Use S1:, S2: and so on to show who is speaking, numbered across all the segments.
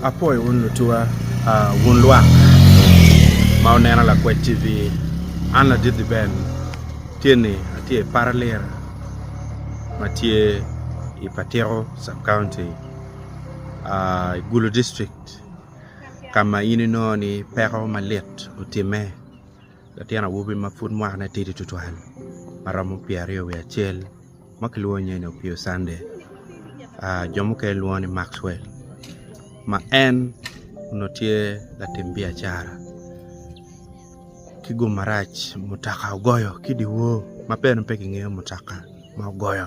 S1: Apwoyo wun lutuwa, wun lwak ma wuneno Lakwed TV. An Ladidhi Ben tye ni atye i Paralira ma tye i Patiko Sub County, i Gulu District. ka ma in inongo ni peko malit otimme latin awobi ma pud mwakne tidi tutwal ma romo pyeraryo wiye acel ma kilwongo nyinge ni Opio Cande jo mukene lwongo ni Maxwell ma en onongo tye latim biacara ki gum marac mutoka ogoyo ki dyewor ma bene pe kingeyo mutoka ma ogoyo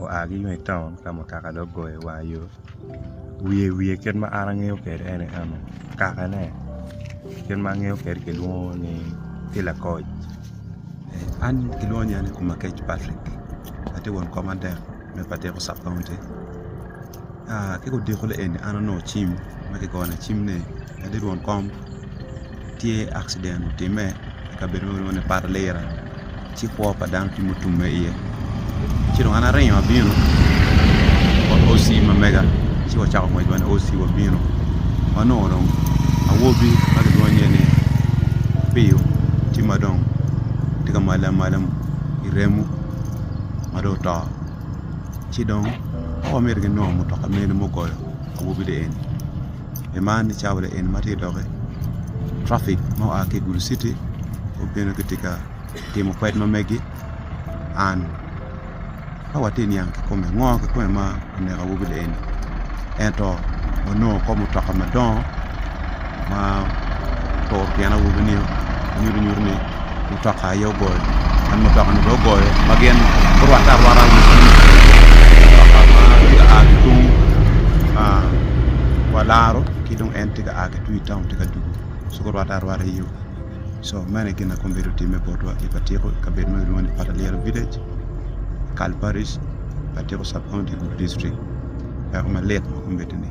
S2: oa ki tung i taun ka mutoka dong ogoyo i wang yo wiye wiye kit ma an angeyo kwede en aye eno kakane kit ma angeyo kwede kilwongo ni tye lakoc
S1: an kilwongo nying aye Komakec Patrick atye won kom adek me ka tiko sub county ka odiko ni eni an onongo cim ma kigona cim ni adit won kom tye accident otime i kabedo ma kilwongo ni poto liro ci kwo pa dano tye ma otumme iye ci dong an aringo abino wa OC ma mega ci wacako ngwec wan OC wabino wanongo dong awobi ma kilwongo nyinge ni Apiyo tye ma dong tye ka mwalo amwala i remo ma dong oto ci dong ka wamito ginongo mutoka mene mugoyo awobi-ni eni. man ni cawa liel ma tye ka doki traffic ma oa ki i gulu citi gubino gitye ka timo kwed ma megi and ka watye ka niang kikome ngo kikome ma omeko awobi ni eni ento wanongo kor mutoka madongo ma oturo tyen awobi nio ma nyuto nyuto ni mutoka aye ogoyo en mutoka ni bene ogoyo ma gin gurwatte arwata i wi pii mutoka ma tye ka a ki tung wa laro ki dong en tye ka a ki tung i taun tye ka dwogo ci gurwatte arwata iyo so meno aye gin ma kombeddi otimme botwa i ka tyeko i kabedo ma kilwongo ni patalyel village i kal paric ka tyeko sub county i gudo dictrict peko malit ma kombeddi ni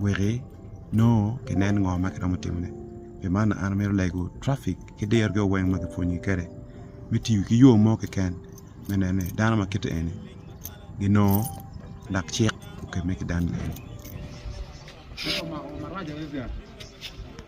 S1: weki nongo ginen ngo ma giromo timone pi man an amito lego traffic ki diro gi weng ma kipwonye kwede me tiyo ki yo mo keken me neno ni dano ma kiti eni ginongo lak cik okemme ki dano eni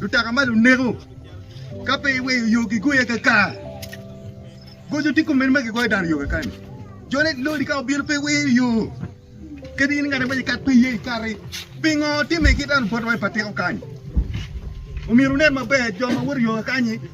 S3: Lutaka ma luneko ka pe iweyo yo gigoya kakar. Goco tye kome ni ma gigoyo dano yo kakar ni. Jone lori ka obino pe iweyo yo. Kadi in ngati ma ikat pe iye ikati. Pingo timme ki dano botwa i patiko kany? Omyero wunen maber jo ma woto i yo kakanyi.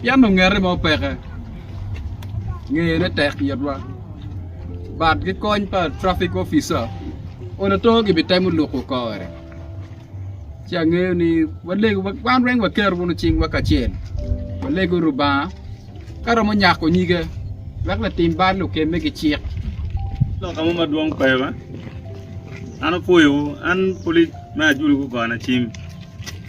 S4: Pien ongete mo peke, ngeyone tek itwa. Bat ki kony pa traffic officer onongo too gibitemo luko kore. Ci angeyo ni walego wan weng waketo wunu cingwa kacel walego Rubanga ka romo nyako nyige wek latim bal okemme ki cik. Lok amo
S2: madwong pe ba? An apwoyowu, an Police me Ajulu Gugona Cim.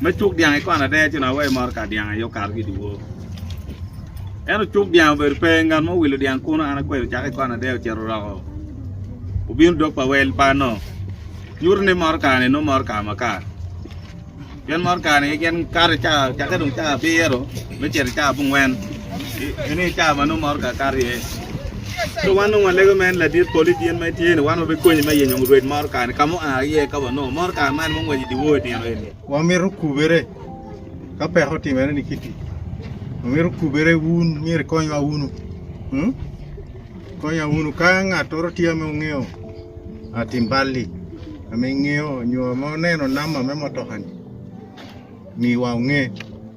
S2: Me cuk dyang ikwano adea ci nongo aweyo moro kar dyang aye okato ki idye wor. Ento cuk dyang obedo pe, ngat mo owilo dyang kuno an akwelo ocako ikwano adea ocito oroko obino dog pa wel pa no nyuto ni moro kare ni nongo moro kare makar pien moro kare ni gin kato ca ocake dong ca abiro me cito i cawa abongwen ene aye cawa ma nongo mot kakato iye so wan nongo walego me en ladit poli tyen ma itye ni wan wabikonyi me yenyo rwed motoka ni ka ma oa iye ka wanongo motoka man ma ongwec idye wor itino eni wamito kubere
S3: ka peko otimere ni kiti wamito kubere wun myero ikonywa wunu hmm? konya wunu ka ngattoro tye ma ongeyo ah, tim balli ama ingeyo nyo ma oneno namba me motokani miwa onge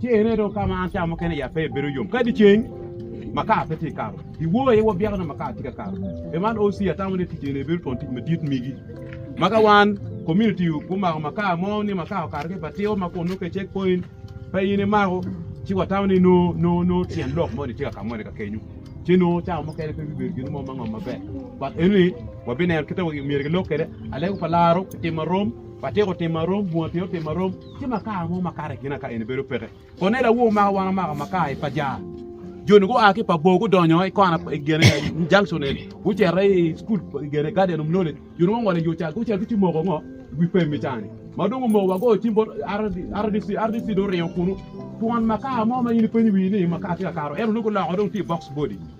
S5: Ci ene dong ka ma an cawa mukene i ape bedo yom, kadi ceng ma kar pe tye ka kato. I wor aye wabyeko nongo ma kar tye ka kato. Pi man, OC atamo ni tic eni bedo twon tic madit migi. Ma ka wan, komuniti, gumako makar mo, ni makar okato ki i batiko ma kun nongo ka cek point pe in imako, ci watamo ni nongo nongo tyen lok moni tye ka ka moni ka kenyu. Ci nongo cawa mukene pe bibedo gin mo ma ngom maber. But enoni wabineno kit ma myero gilok kwede, aleko pa laro otim marom, batiko otim marom, bunga tyen otim marom. Ci makar mo makato i kina ka en bedo peke. Konela woo maka wan omako makar i pajar. Joni gua ki pa bor gudonyo i kona i gene junction en. Gucito i school i gene Guardian of Knowledge. Joni wangole yo cal gucel gici moko ngo wi pem i cani. Ma dong omoko wa goyo cim bot RDC. RDC dong oringo kunu. Twon makar mo ma in ipenyo wii ni makar tye ka kato. Ento nongo guloko dong tye i box body.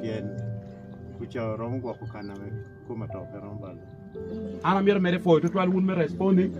S3: pien kuca romo gwoko kana me koma to pe romo balo. An amyero mere
S5: pwoyo tutwal wun me responi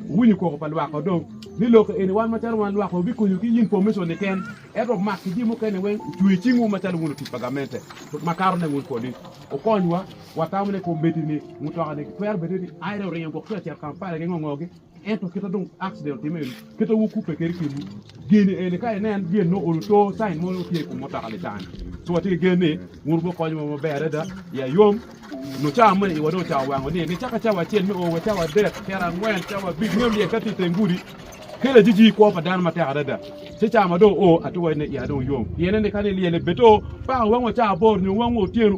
S5: wunyu koko pa lwak odong ni loko eni wan macalo wan lwak obi konyu ki yin pomison ni ken eto mak ki ji mukene weng ucwe cing wu macalo wun otic pa gamente tut makato ne wun kodi okony wa watamo ne kometi ni mutoka ni twero bene ni aire oringo gwok tye acer kampala gi ngongo gi Ento kit ma dong akciden otimme eni, kit ma wukubbe kwede i kinwu, geni eni ka inen gin nongo oyo to cain mo nongo tye i kom mutoka Litaani. Ci watye ki gen ni wun wubino konyowa maber adada i ayom, nyo cawa ma iwa dong ocawa wango ni nicaka cawa acel me o wa cawa adek, kera angwen, cawa abic, ngeyo lyel ka tye i teng gudi kelo ajiji kwo pa dano matek adada. Ci cawa ma dong oo atika wacci ni iya dong yom, pien-ni ka ni lyel-le bed to pako wangwa cawa aboro nyo wangwa otyeno.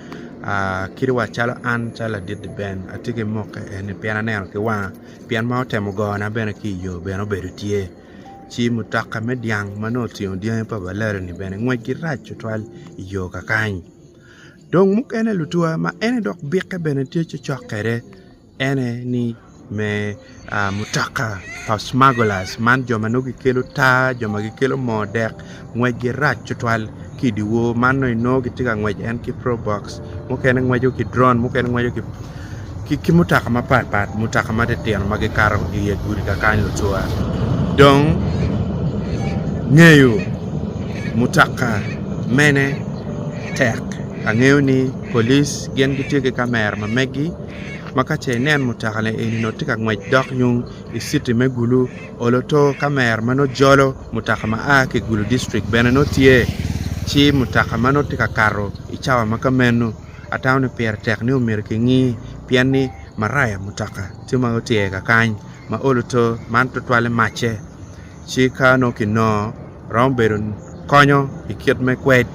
S1: kit wa calo an calo ladit-ti Ben atye ki muki eni pien aneno ki wanga pien ma otemo gona bene ki iyo bene obedo tye ci mutoka me dyang ma nongo otingo dyangi pa balere-ni bene ngwecgi rac tutwal iyo kakany dong mukene lutuwa ma en dok bikke bene tye cokcok kwede ene ni me mutoka pa smuggler's man jo ma nongo gikelo taa jo ma gikelo moo dek ngwecgi rac tutwal ki i dyewor man dong inongo gitye ka ngwec en ki probox mukene ngweco ki dron mukene ngweco ki mutoka mapat pat mutoka matitino ma gikato i nge gudi kakany lucwa dong ngeyo mutoka mene tek angeyo ni police gin gitye ki kamera ma megi makace inen mutoka ni eni nongo tye ka ngwec dok yung i citi me gulu olo to kamera ma nongo jolo mutoka ma a ki i gulu district bene nongo tye ci mutoka ma nongo tye ka kato i cawa ma ka meno atamo ni pire tek ni omyero ki ngi pien ni maraya mutoka tye ma otyer kakany ma olo to man tutwalle macce ci ka nongo ki nongo romo bedo konyo i kit me kwed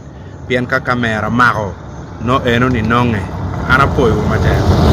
S1: pien ka kamera mako nongo eno ni nonge an apoyo wu matek.